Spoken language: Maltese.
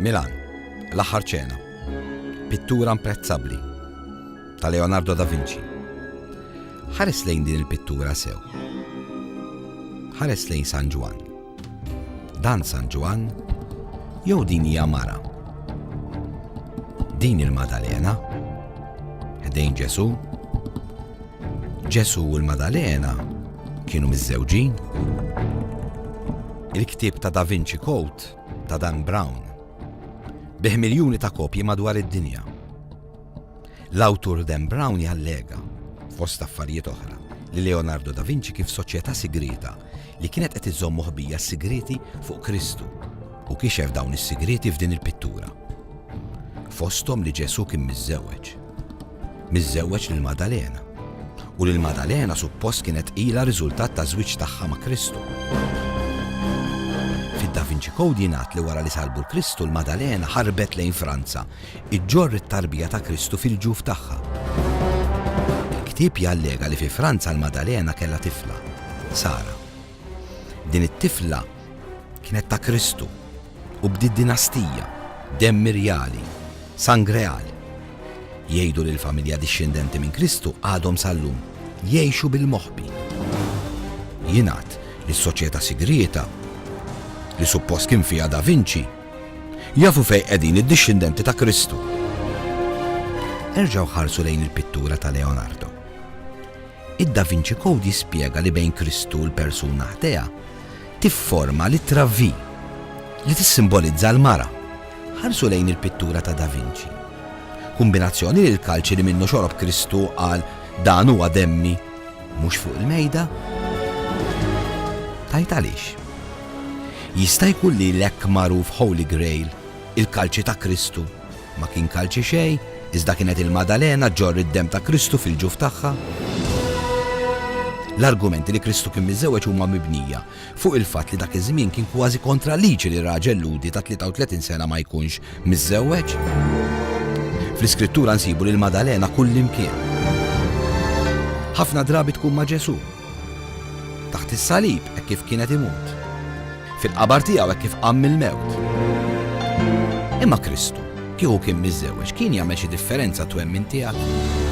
Milan, L-aħħar ċena. Pittura imprezzabbli ta' Leonardo da Vinci. Ħares lejn din il-pittura sew. Ħares lejn San Ġwan. Dan San Ġwan jew din hija mara. Din il-Madalena ħdejn Ġesu Ġesù u l-Madalena kienu miżżewġin? Il-ktieb ta' Da Vinci Code ta' Dan Brown bih miljuni ta' kopji madwar id-dinja. L-awtur Dan Brown jallega, fost affarijiet oħra, li Leonardo da Vinci kif soċjetà sigrieta li kienet qed iżomm moħbija s-sigriti fuq Kristu Hu kixef dawn is-sigrieti f'din il-pittura. Fosthom li Ġesù kien miżżewweġ. Miżżewweġ lil Maddalena. U lil Maddalena suppost kienet qilha riżultat taż-żwieġ tagħha ma' Kristu. Fid-Da Vinci Code jingħad li wara li salbu l-Kristu l-Maddalena ħarbet lejn Franza, iġġorr it-tarbija ta' Kristu fil-ġuf tagħha. Il-ktieb jallega li fi Franza l-Maddalena kellha tifla, Sara. Din it-tifla kienet ta' Kristu u bdiet dinastija, demm irjali, sang real. Jgħidu li l-familja dixxendenti minn Kristu għadhom sal-lum jgħixu bil-moħbi. Jingħad li s-soċjetà sigrieta, li suppost kien fiha Da Vinci, jafu fejn qegħdin id-dixxendenti ta' Kristu. Erġgħu ħarsu lejn il-pittura ta' Leonardo. Id-Da Vinci Code jispjega li bejn Kristu u l-persuna ħdejha tifforma l-ittra V, li tissimbolizza l-mara. Ħarsu lejn il-pittura ta' Da Vinci. Kumbinazzjoni li l-kalċi li minnu xorob Kristu qal dan huwa demmi mhux fuq il-mejda? Tajt għaliex. Jista' jkun li l-hekk magħruf Holy Grail, il-kalċi ta' Kristu, Ma kien kalċi xejn, iżda kienet il-Maddalena ġġorr id-demm ta' Kristu fil-ġuf tagħha. L-argumenti li Kristu kien miżżewweġ huma mibnija fuq il-fatt li dak iż-żmien kien kważi kontra l-liġi li raġel Lhudi ta' 33 sena ma jkunx miżżewweġ. Fl-Iskrittura nsibu lill-Maddalena kullimkien. Ħafna drabi tkun ma' Ġesù. Taħt is-salib hekk kif kien qed imut. Fil-qabar tiegħu hekk kif qam mill-mewt. Imma Kristu, kieku kien miżżewweġ, kien jagħmel xi differenza twemmin tiegħek?